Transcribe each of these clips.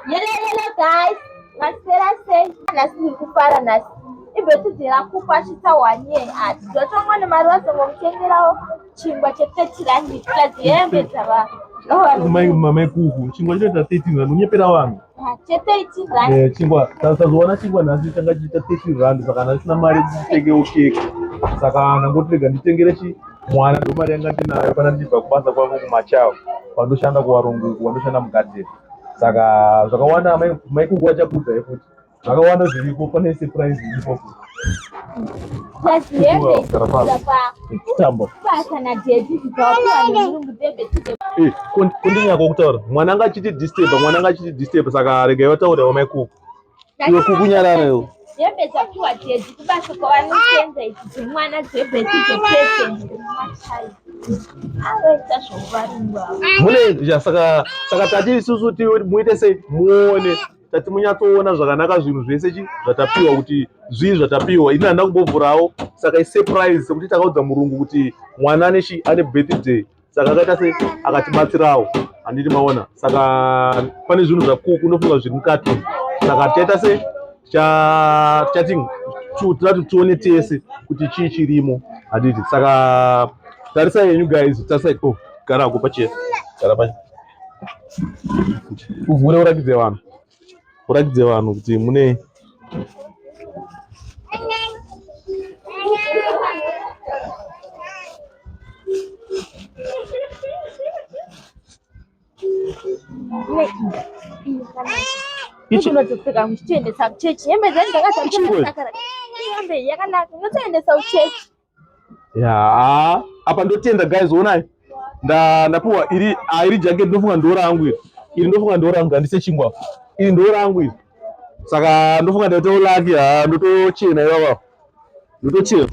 Yelelele guys, masera sei? Nhasi ndiri kufara nhasi. Ibhethidhe rakupa achitsa wanye ati zvatongo nemari vazongomutengerawo chingwa che30 rand plus hembe dzava. Kumai mamai kuku chingwa chinoita 13 rand unyepera vanhu. Ah, che13 rand. Eh chingwa tasazowana chingwa nhasi changa chiita 13 rand saka ndasina mari kuti nditengewo keke. Saka ndangotirega nditengere chi Mwana ndo mari yanga ndinayo kana ndibva kubasa kwangu kumachawa vandoshanda kuvarungu uku vandoshanda mugadheni saka zvakawanda maikuku vachakudza yekuti zvakawanda zviriko pane surprise iripo kundinyako kutaura mwana anga achiti disturb mwana anga achiti disturb saka regai vataurira vamaikuku Iwe kukunyarara iwe. Hembe dzapihwa Dedzi kubasa kwavanosenza idzi dzemwana dzebheti dzepresent anoita zvokuvaringwa. Mune saka saka tati isusu muite sei muone tati munyatsoona zvakanaka zvinhu zvese chi zvatapiwa kuti zvii zvatapiwa ini handina kumbovhurawo saka isurprise sekuti takaudza murungu kuti mwana ane chi ane birthday saka akaita se akatibatsirawo handiti maona saka pane zvinhu zvakuku unofunga zviri mukati saka tichaita se tichating tirati tione tese kuti chii chirimo handiti saka tarisa yenyu guys tarisa o oh, gara ako pachese gara pa uvhure urakidze vanhu Urakidze vanhu kuti mune unotopfeka muchitoendesa kuchechi hembe dzenyu dzakazaa yakanaka unotoendesa kuchechi yaa apa ndotenda guys onai ndapiwa iri ah, iri jacket ndofunga ndora yangu iri iri ndofunga ndora yangu handise chingwa iri ndora yangu iri saka ndofunga ndaitawo laki haa ah, ndotochena ivava ndotochena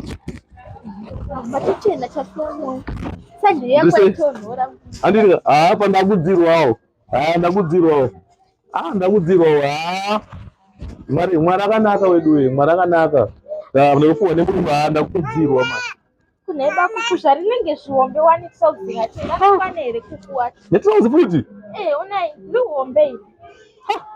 handiri haa ah, pandakudzirwawo haa ndakudzirwawo Ah, ndakudzirwa wa. Mwari, mwari akanaka wedu we, mwari akanaka. Da, ndikufuwa nemuruva, ndakudzirwa ma. Kune bakufu zvarinenge zvihombe wani trouzi ngati ngakwane here kukuwa. Ne trouzi futi? Eh, unai, lihombe. Ha.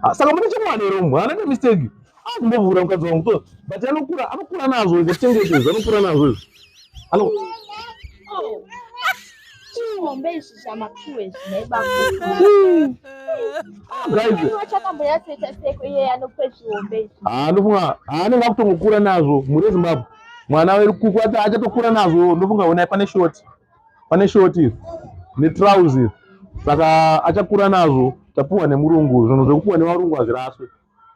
Ah, saka mune chimwana here mwana ne mistake. akumbovhura mukadzi wangu so but anokura anokura nazvo izvo tengete izvo anokura nazvo izvo ano chihombe izvi zvamapiwe zvinaibaandofunga anenge akutongokura nazvo mhuri yezimbabwe mwana wekuku achatokura nazvo ndofunga honai pane shoti pane shoti netrouse saka achakura nazvo tapuwa nemurungu zvinhu zvekupuwa nevarungu hazviraswe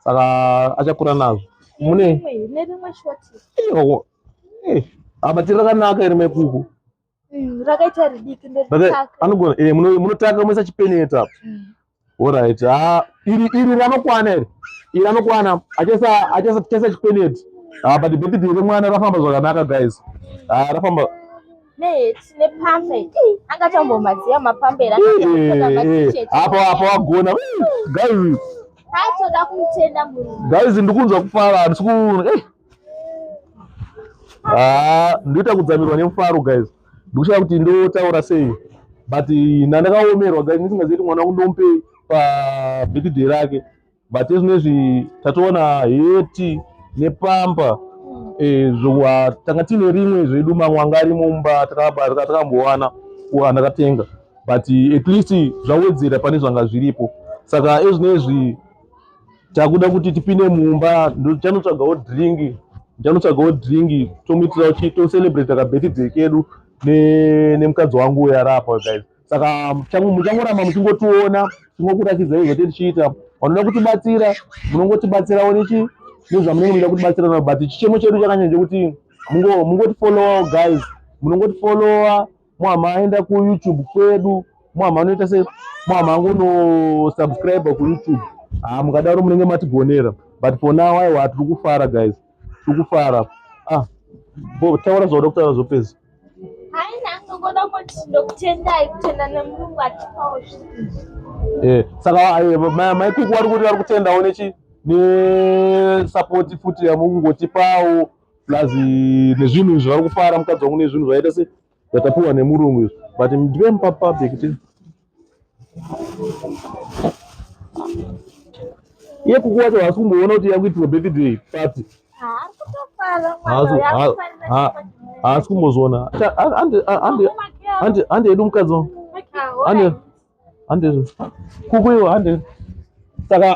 saka achakura nazvo mune eh, abatiri rakanaka iri mekuku mm, rakaita ridiki anogona eh, munotanga moisa chipeneta orit mm. ah, iri iri ranokwana iri iri anokwana achasa chipeneti ah, but bhedhidhi remwana rafamba zvakanaka guys ah, rafamba apo apo wagona guys Achoda kumutenda murume. Guys ndikunzwa kufara handisi kuona. Eh. Ah, ndoita kudzamirwa nemufaro guys. Ndikushaya kuti ndotaura sei. But ndandakaomerwa guys ndisingazivi kuti mwana wangu ndompe pa birthday rake. But zvinezvi tatoona heti nepampa hmm. eh zvowa tanga tine rimwe zvedu mamwanga ari mumba takakambowana kuana katenga. but at least zvawedzera pane zvanga zviripo saka ezvinezvi takuda kuti tipinde mumba ndichanotsvagawo drink ndichanotsvagawo drink tomuitirawo chi tocelebrate ka birthday kedu nemukadzi ne wangu uyo arapa guys saka muchangoramba muchingotiona tingokurakidza izvo tichiita vanoda kutibatsira munongotibatsirawo nechi nezvamunenge muchida kutibatsira navo but chichemo chedu chakanyanya chekuti mungotifollowawo guys munongotifollowa mwama aenda ku youtube kwedu mwama anoita se mwama angono subscribe ku youtube ah mukadaro munenge matigonera but for now aiwa tiri kufara guys tiri kufara ah bo taura zvoda kutaura zvopedza eh, saka eh, maikuku vari kuti vari kutendawo nechi nesupport futi yamungotipawo plus nezvinhu izvi vari kufara mukadzi wangu nezvinhu zvaita se zvatapiwa nemurungu izvi but ndive mupa public ti iye kuku wacho haasi kumboona kuti yakuitirwa birthday party haasi kumbozviona handi edu mukadzi wangu handi handi kuku iwo handi saka